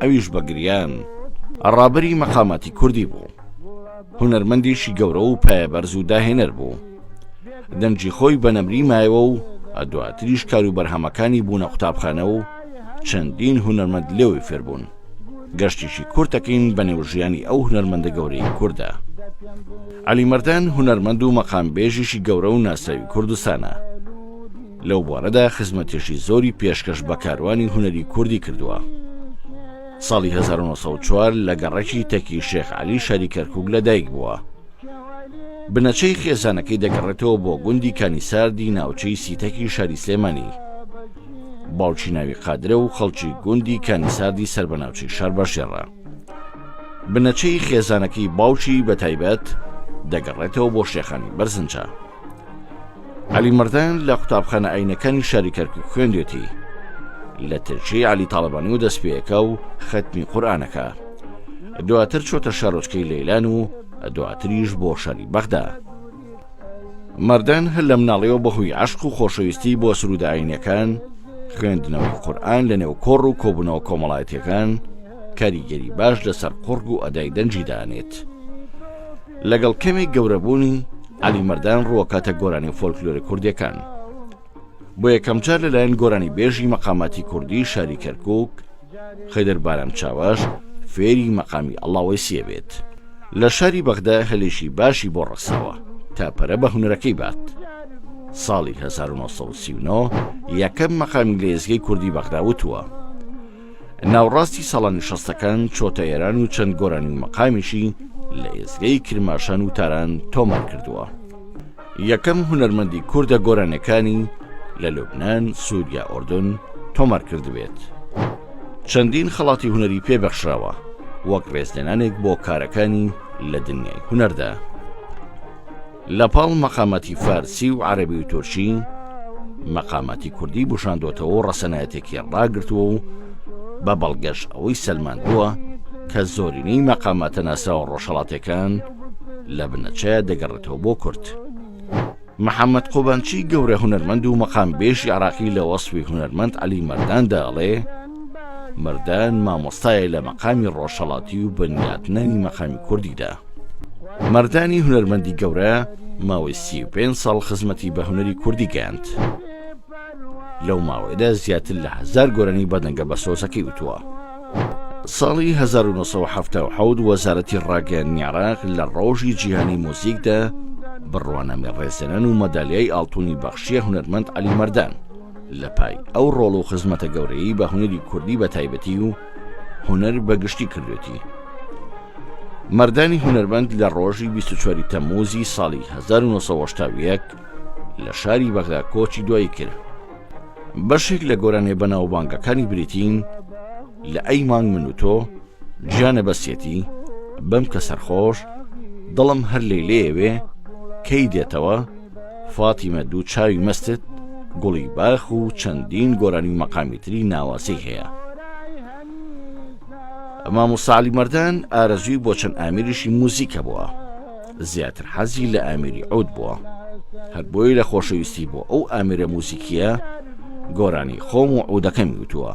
ئەویش بە گریان ڕابەری مەقاماتی کوردی بوو هونەرمەندیشی گەورە و پایەبەرز و داهێنەر بوو دەنگی خۆی بە نەمری مایەوە و دواتریش کار و بەرهەمەکانی بوونە قوتابخانە و چەندین هونەرمەند لێوی فێربوون گەشتیشی کورتەکەین بە نێو ژیانی ئەو هونەرمەندە گەورەی کووردە علی مردان هونەرمەند و مەقامبێژیشی گەورە و ناساوی کوردستانە لەو بوارەدا خزمەتێکی زۆری پێشکەش بە کاروانی هونەری کوردی کردووە. ساڵی هەزار و نۆ سەد و چوار لە گەڕەکی تەکی شێخ عەلی شاری کەرکووک لەدایک بووە. بنەچەی خێزانەکەی دەگەڕێتەوە بۆ گوندی کانیساردی ناوچەی سیتەکی شاری سلێمانی. باوکی ناوی قادرە و خەڵکی گوندی کانیساردی سەر بە ناوچەی شارباژێڕە. بنەچەی خێزانەکەی باوکی بە تایبەت دەگەڕێتەوە بۆ شێخانی بەرزنجە. عەلی مەردان لە قوتابخانە ئاینەکانی شاری کەرکک خوێندێتی لە ترچی علی تاالبانی و دەست پێەکە و خەتمی قورآانەکە دواتر چۆتە شارۆچکەی لەیلان و دواتریش بۆ شاری بەغدا مردن هەر لە مناڵەوە بەهۆی عشق و خۆشەویستی بۆ سروداینەکان خوێندنەوەی قورآن لە نێو کۆڕ و کۆبوونەوە کۆمەڵایەتەکان کاریگەری باش لەسەر قڕگ و ئەدای دەنجی دانێت. لەگەڵ کەمێک گەورەبوونی عەلی مەردان ڕووەکاتە گۆرانی و فۆلکلۆری کوردەکان بۆ یەکەمجار لەلایەن گۆرانی بێژی مەقاماتی کوردی شاری کەرکک خەدر بارام چاواش فێری مەقامی ئەڵاوەی سێ بێت لە شاری بەغدا هەلێکی باشی بۆ ڕەخساوە تا پەرە بە هونەرەکەی بات ساڵی 1939 یەکەم مەقامی لە ئێزگەی کوردی بەغدا وتووە ناوڕاستی ساڵانی شەستەکان چۆتە ئێران و چەند گۆرانی و مەقامیشی لە ئێزگەی کرماشان و تاران تۆمار کردووە یەکەم هونەرمەندی کوردە گۆرانەکانی لە لوبناان سووریا ئۆردن تۆمار کردبێت چەندین خەڵاتی هوەری پێبەخشراوە وەک ڕێزلێنانێک بۆ کارەکانی لە دنیای هوەردا. لە پاڵ مەقاماتی فارسی و عەرەبی و تورکی، مەقاماتی کوردی بوشاندۆتەوە و ڕەسەنایەتێکی ڕاگرتووە و بە بەڵگەش ئەوەی سەلماندووە کە زۆرینەی مەقاماتە ناسراوە ڕۆژهەڵاتەکان لە بنەچەیە دەگەڕێتەوە بۆ کورد. محەممەد قوبانچی گەورە هونەرمەند و مەقامبێژی عراقی لە وەسفی هونەرمەند عەلی مەرداندا ئەڵێ، مەردان مامۆستایە لە مەقامی ڕۆژهەڵاتی و بنیاتنانی مەقامی کوردیدا مەردانی هونەرمەندی گەورە ماوەی سی پێ ساڵ خزمەتی بە هونەری کوردی گەیاند لەو ماوەیەدا زیاتر لە هزار گۆرانی بەدەنگە بە سۆزەکەی وتووە ساڵی 1970 وەزارەتی ڕاگەیاندنی عراق لە ڕۆژی جیهانی مۆزیکدا بڕوانامی ڕێزێنان و مەدالیای ئاڵتونی بەخشیە هونەرمەند علی مەردان لە پای ئەو ڕۆڵ و خزمەتە گەورەیی بە هونەری کوردی بە تایبەتی و هونەر بە گشتی کردوێتی مەردانی هونەرمەند لە ڕۆژی 24 تەموزی ساڵی 1970 لە شاری بەغدا کۆچی دوایی کرد بەشێک لە گۆرانێ بەناوبانگەکانی بریتین لە ئەی مانگ من و تۆ گیانە بەسیەتی بەم کە سەرخۆش دڵم هەر لێ لێوێ کەی دێتەوە فاتیمە دوو چاوی مەستت گوڵی باخ و چەندین گۆرانی و مەقامی تری ناوازەی هەیە مامۆساعلی مەردان ئارەزوی بۆ چەند ئامیریشی موزیکە بووە زیاتر حەزی لە ئامیری عود بووە هەر بۆی لە خۆشەویستی بۆ ئەو ئامرە موزیکیە گۆرانی خۆم و عودەکەم وتووە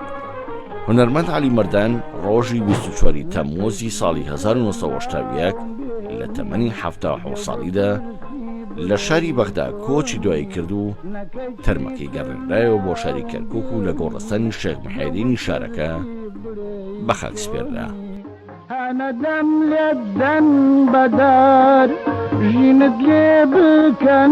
هونەرمەند علی مردان ڕۆژی 24 تەمموزی ساڵی 1970 لە تەمەنی ه ساڵیدا لە شاری بەغدا کۆچی دوایی کرد و تەرمەکەی گەڕێنرایەوە بۆ شاری کەرکک و لە گۆڕستانی شێخ محێدینی شارەکە بە خاک سپێررا هەنەدەم لێدەن بەدار ژینت لێ بکەن